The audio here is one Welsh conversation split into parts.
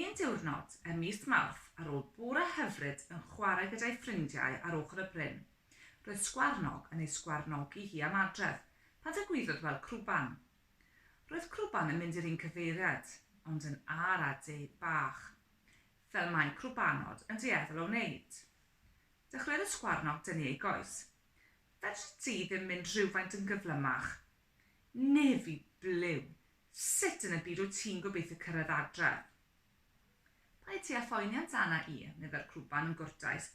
Un diwrnod ym mis Mawrth ar ôl bore hyfryd yn chwarae gyda'i ffrindiau ar ochr y bryn, roedd Sgwarnog yn ei sgwarnogi hi am adref pan dygwyddodd weld Crwban. Roedd Crwban yn mynd i'r un cyfeiriad, ond yn âr a du bach, fel mae Crwbanod yn dueddol o wneud. Dechreuodd y Sgwarnog dynnu ei goes. Fedri di ddim mynd rhywfaint yn gyflymach? Nefy Blew, sut yn y byd wyt ti'n gobeithio cyrraedd adref? Paid ti â phoeni amdana i, meddai'r crwban yn gwrtais.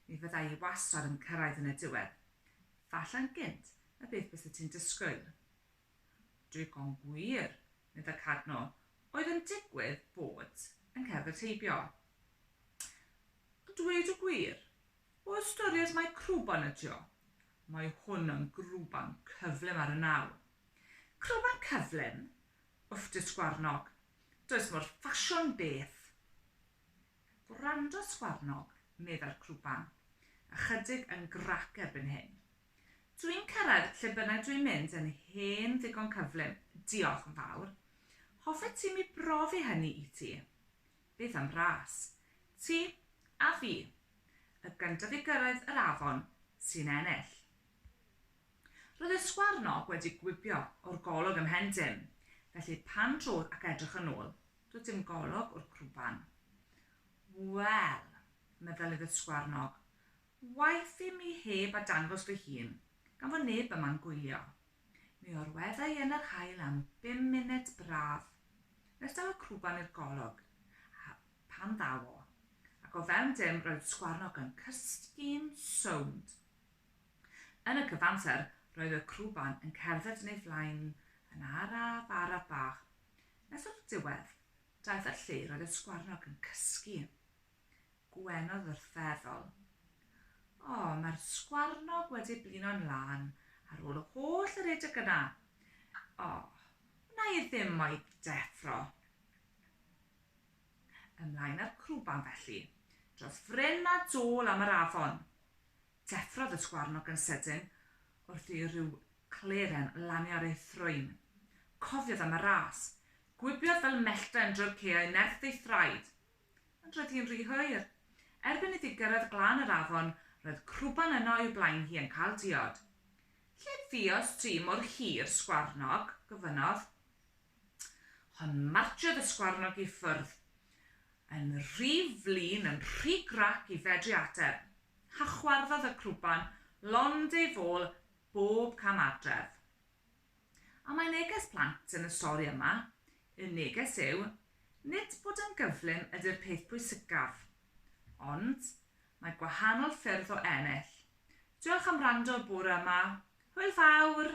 Mi fydda i wastad yn cyrraedd yn y diwedd. Falle'n gynt na beth byset ti'n disgwyl. Digon gwir, meddai Cadno, oedd yn digwydd bod yn cerdded heibio. A dweud y gwir, O ystyried mai crwban ydy o, mae hwn yn grwban cyflym ar y naw. Crwban cyflym? Wff dy sgwarnog, does mor ffasiwn beth! Gwrando sgwarnog, meddai'r crwban, ychydig yn grac erbyn hyn. Dw i'n cyrraedd lle bynnag dw i'n mynd yn hen ddigon cyflym, diolch yn fawr. Hoffet ti mi brofi hynny i ti? Beth am ras? Ti a fi. Y gyntaf i gyrraedd yr afon sy'n ennill. Roedd y sgwarnog wedi gwibio o'r golwg ym mhen dim, felly pan drodd ac edrych yn ôl, doedd dim golwg o'r crwban. Wel, meddylydd y sgwarnog, waeth i mi heb a dangos fy hun, gan fod neb yma'n gwylio. Mi orwedda i yn yr haul am bum munud braf, nes daw y crwban i'r golwg, a pan ddaw o, ac o fewn dim roedd Sgwarnog yn cysgu'n sownd. Yn y cyfamser roedd y crwban yn cerdded yn ei flaen yn araf araf bach, nes o'r diwedd, daeth y lle roedd y Sgwarnog yn cysgu. gwenodd wrth feddwl. O, mae'r sgwarnog wedi blino'n lân ar ôl y holl redeg yna. O, wna i ddim o'i deffro. Ymlaen â'r crwban felly, dros fryn a dôl am yr afon. Deffrodd y sgwarnog yn sydyn wrth i ryw gleren lanio ar ei thrwyn. Cofiodd am y ras. Gwibiodd fel mellten drwy'r caeau nerth ei thraed. Ond roedd hi'n rhy hwyr. Erbyn iddi gyrraedd glan yr afon, roedd crwban yno i'w blaen hi yn cael diod. Lle fuodd ti mor hir, sgwarnog? gofynnodd. Hon martsiodd y sgwarnog i ffwrdd, yn rhy flin, yn rhy grac i fedru ateb. Hachwarddodd y crwban lond ei fôl bob cam adref. A mae neges plant yn y stori yma, y neges yw, nid bod yn gyflym ydy'r peth pwysicaf, ond mae gwahanol ffyrdd o ennill. Diolch am wrando bore yma. Hwyl fawr!